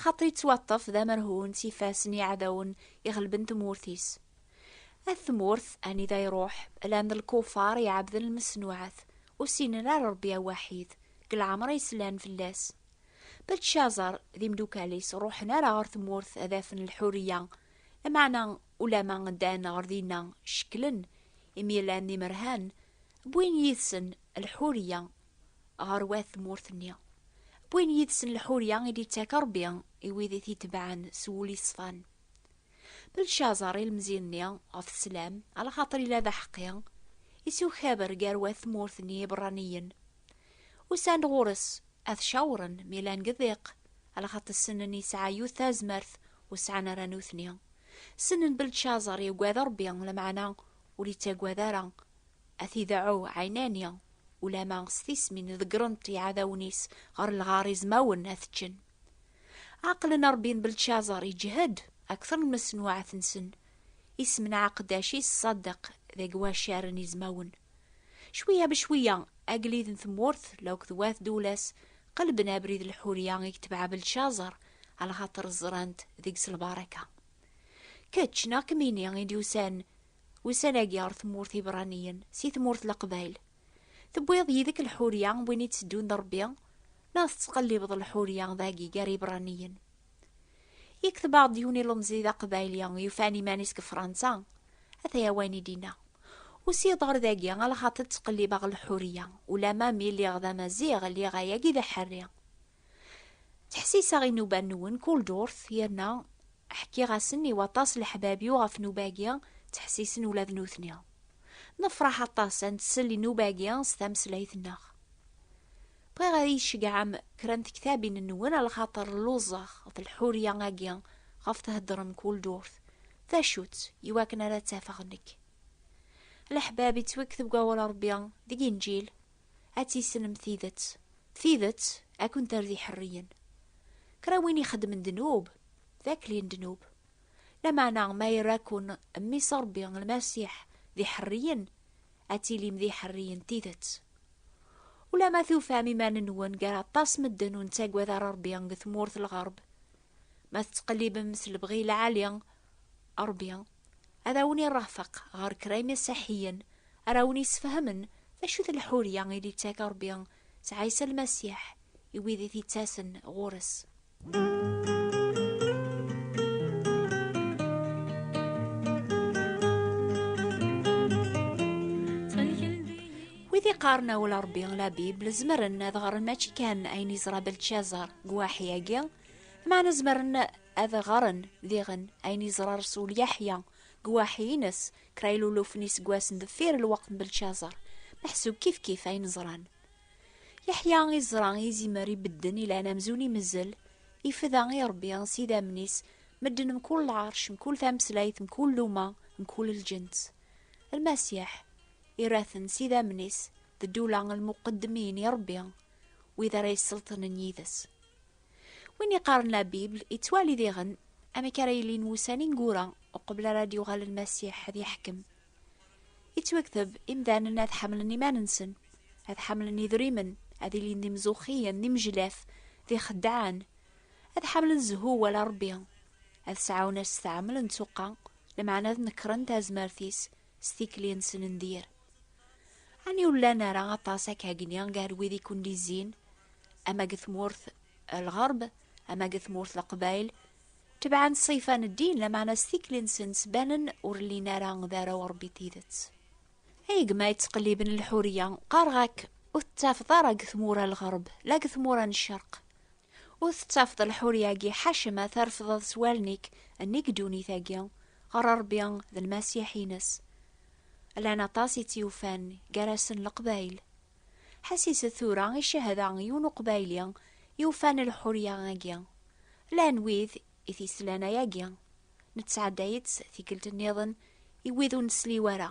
lxaṭi yettwaṭṭef d amerhu n tifas n yiɛdawen iɣelben tmurt-is. At tmurt, anida iruḥ, llan d lkufar iɛebden lmesnuɛat, ur ssinen ara Rebbi awaḥid, deg lɛemṛ i slan fell-as. Beltcazar d imdukal-is ur ruḥen ara ɣer tmurt ad afen lḥuriya, lameɛna ulamma ddan ɣer dinna cekklen, imi llan d imerhan, wwin yid-sen lḥuriya ɣer wat tmurt-nni. Wwin yid-sen lḥurya i d-ittak Rebbi i wid i t-itebɛen s wul yeṣfan. Belcaẓer ilmzi-nni ɣef sslam, alaxaṭer ila d aḥeqqi, isukaber gar wat tmurt n Yiberraniyen. Usan-d ɣur-s, ad t-cawren mi llan deg ddiq, alaxaṭer ssnen yesɛa yiwet tazmert ur sɛan ara nutni. Ssnen Belcaẓer yuggad Rebbi, lameɛna ur ittagad ara A t-ideɛɛu ɛinani, ulama s tismi n ḍeggren-t iɛdawen-is ɣer lɣar izmawen ad t-ččen. Ɛeqlen Ṛebbi n Beltcazar iǧhed akteṛ n mesnuɛet-nsen, isem n ɛaqeddac-is Ṣadeq deg wacar n izmawen. Cwiya becwiya, agellid n tmurt lauk d wat duwla-s qelben abrid lḥuriya i yetbeɛ Beltcazar, alxateṛ ẓran-t deg-s lbaraka. Kečč neɣ kemmini i d-yusan Ussan-agi ɣer tmurt Ibraniyen si tmurt Leqbayel. Tewwiḍ yid-k lḥurya n win i tteddun d Rebbi, neɣ tettqellibeḍ lḥurya dagi gar Ibraniyen? Yekteb-aɣ-d yiwen ilemẓi d aqbayli yufan iman-is deg Fransa, ata-ya wayen i d-yenna, Usiɣ-d ɣer dagi ala xaṭi ttqellibeɣ lḥurya, ulamma mi lliɣ d amaziɣ lliɣ ayagi d aḥerri. Ttḥessiseɣ i nnuba-nwen kul ddurt, yerna ḥkiɣ-asen i waṭas leḥbab-iw ɣef nnuba-agi, ttḥessisen ula d nutni. Nefṛeḥ aṭas ad nsel i nnuba-agi s tameslayt-nneɣ. Bɣiɣ ad iyi-tceggɛem kra n tektabin-nwen lxaṭer lluẓeɣ ɣef lḥurya-agi ɣef theddṛem kul ddurt, d acu-tt, i wakken ara tt-afeɣ nekk. Leḥbab ittwekteb deg Wawal n Ṛebbi, deg Inǧil. ad tissnem tidet, tidet ad kent-err d iḥerriyen. Kra win ixeddmen ddnub, d akli n ddnub. Lameɛna ma yerra-ken Mmi-s Ṛebbi, Lmasiḥ, d iḥerriyen, ad tilim d iḥerriyen n tidet. Ulamma tufam iman-nwen gar aṭas medden ur nettagad ara Ṛebbi deg tmurt n lɣerb, ma tettqellibem s lebɣi lɛali a Ṛebbi, Ad awen-irrafeq ɣer kra imasaḥiyen ara awen-isfehmen d acu-t lḥurya i d-ittak Ṛebbi s Ɛisa Lmasiḥ i wid i t-ittasen ɣur-s. Wid iqqaren awal Ṛebbi, la Bible, zemren ad ɣren mačči kan ayen yeẓra Beltcazar deg uwaḥi-agi, lmeɛna zemren Ad ɣren, diɣen, ayen yeẓra Resul Yeḥya deg uwaḥi-ines, kra ilulufen iseggasen deffir lweqt n Belcazer, meḥsub kifkif ayen ẓran. Yeḥya iẓra i izimer ibedden ilan amzun imezzel, ifda i Rebbi s idammen-is medden mkul lɛerc, mkul tameslayt, mkul luma, mkul lǧens. Lmasiḥ ira-ten s idammen-is d ddula n lmuqeddmin i Rebbi, wid ara yesselṭnen yid-s. Win iqaren la Bible yettwali diɣen amek ara yilin wussan ineggura uqbel ara d-yuɣal Lmasiḥ ad yeḥkem. Yettwekteb imdanen ad ḥamlen iman-nsen, ad ḥamlen idrimen, ad ilin d imzuxxiyen, d imejlaf, d ixeddɛen, ad ḥamlen zzhu wala Rebbi, ad sɛawen asetɛeml n tsuqqa, lameɛna ad nekren tazmert-is, s tikli-nsen n dir. Ani ur llan ara aṭas ak agni gar wid i kun-d-izzin, ama deg tmurt lɣerb, ama deg tmurt leqbayl, tebɛen ṣṣifa n ddin, lameɛna s tikli-nsen ttbanen ur llin ara d arraw n Ṛebbi n tidet. Ay gma yettqelliben lḥuriya, qqareɣ-ak ur tettafeḍ ara deg tmura n lɣerb, la deg tmura n ccerq. Ur tettafeḍ lḥurya-agi ḥaca ma trefdeḍ s wallen-ik nnig ddunit-agi, ɣer Ṛebbi d Lmasiḥ-ines. Llan aṭas i tt-yufan, gar-asen Leqbayel. Ḥessis-d tura i cehda n yiwen Uqbayli yufan lḥurya-agi. Llan wid i t-yeslan ayagi, nettɛedday-itt tikkelt-nniḍen i wid ur nesli wara,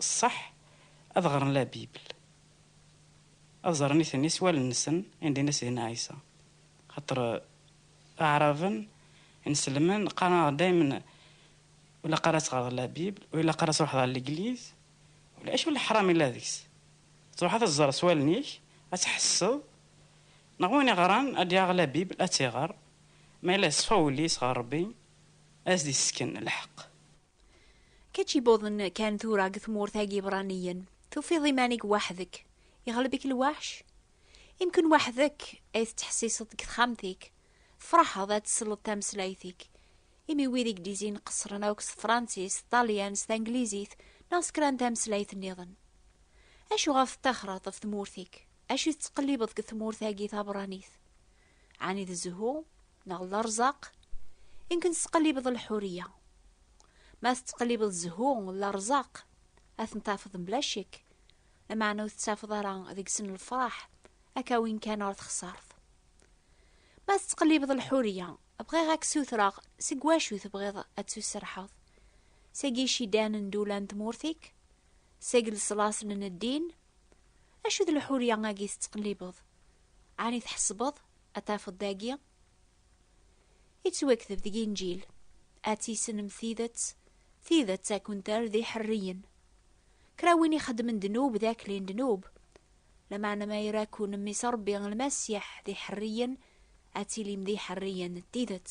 ṣṣeḥ ad ɣren la Bible, ad ẓren iten-i s wallen-nsen i ndin-a Sidna Ɛisa. Xaṭer Aɛraben, Ineslemen, qqaren-aɣ-d daymen ur ilaq ara ad teɣreḍ la Bible, ur ilaq ara ad truḥeḍ ɣer legliz, ula acu n leḥram yella deg-s? Ad truḥeḍ ad teẓreḍ s wallen-ik, ad tḥesseḍ, neɣ win iɣran ad d-yaɣ la Bible ad tt-iɣer, ma yella yeṣfa wul-is ɣer Rebbi, ad as-d-yessken lḥeqq. Kečč ibuḍen kan tura deg tmurt-agi ibraniyen, tufiḍ iman-ik waḥdek, iɣleb-ik lwaḥc? Imken waḥdek ay tettḥessiseḍ deg texxamt-ik, tefraḥeḍ ad tesleḍ tameslayt-ik, imi wid i gdizin qeṣṣren akk s tefransist, s ṭalyan, s tanglizit, neɣ s kra n tameslayt nniḍen. Acu ɣef tettaxreḍ ɣef tmurt-ik? Acu tettqellibeḍ deg tmurt-agi tabranit? Ɛni d zzhu? neɣ lerẓaq i nken tettqellibeḍ lḥuriya ma tettqellibeḍ zzhu lerẓaq ad ten-tafeḍ mebla ccek lameɛna ur tettafeḍ ara deg-sen lefraḥ akka win kan ɣer texsart ma tettqellibeḍ lḥuriya bɣiɣ ad k-sutreɣ seg wacu tebɣiḍ ad tusserḥeḍ seg icidan n dula n tmurt-ik seg leṣlaṣen n ddin acu d lḥuriya agi tettqellibeḍ ɛni tḥesbeḍ Ad tafeḍ dagi yettwakteb deg Inǧil, ad tissnem tidet, tidet ad kent-terr d iḥerriyen. Kra win ixeddmen ddnub d akli n ddnub, lameɛna ma ira-ken Mmi-s Ṛebbi Lmasiḥ d iḥerriyen, ad tilim d iḥerriyen n tidet.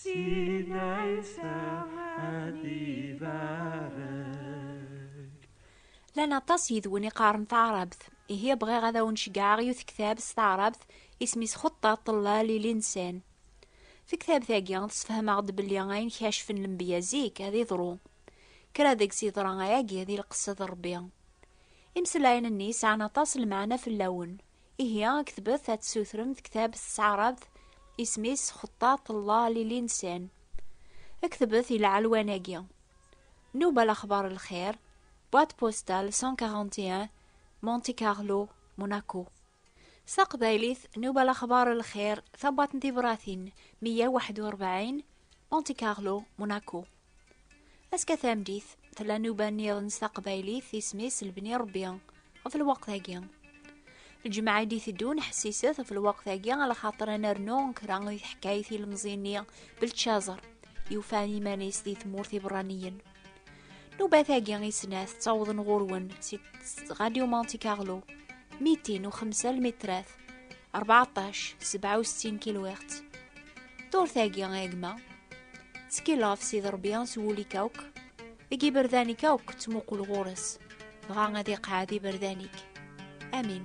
Sidna Isa ad ibarek. Lan aṭas yidwen iqaren taɛrabt. Ihi bɣiɣ ad awen-ceggɛeɣ yiwet ktab s taɛrabt isem-is Xutta Ṭella Lili Nsen. Tektabt-agi tesfehmeɣ-d belli ayen kacfen lembiya zik ad iḍru. Kra deg-s yeḍra ayagi di lqesed Rebbi. Imslayen-nni sɛan aṭas lmeɛna fell-awen, Ihi aktbet ad tessutrem tektab s tɛarabt, isem-is Xeṭṭaṭ Allah Lilinsan. Ktbet i lɛelwan-agi. Nuba Lexbar Lxir, Boîte Postale 141, Monte Carlo, Monaco. S taqbaylit, Nuba Lexbar Lxir, Tabwaṭ n Tibṛatin 141, Monte Carlo, Monaco. Aska tamdit, tella nuba niḍen s taqbaylit, isem-is Lbni Rebbi, ɣef lweqt-agi. Lǧemɛa i d-iteddun ḥessiset ɣef lweqt-agi, ala xaṭer ad nernu kra i teḥkayt ilemẓi-nni Beltcazer, yufan iman-is di tmurt iberraniyen. Nubat-agi i snat ttawḍen ɣur-wen si Radio Monte Carlo, mitin u xemsa lmitrat, 14 67 kilwiɣt Turtagi a gma Ttkilleɣ s id Rebbi s wul-ik akk Deg iberdan-ik akk ttmuqul ɣur-s Dɣa ad iqeɛɛed iberdan-ik Amin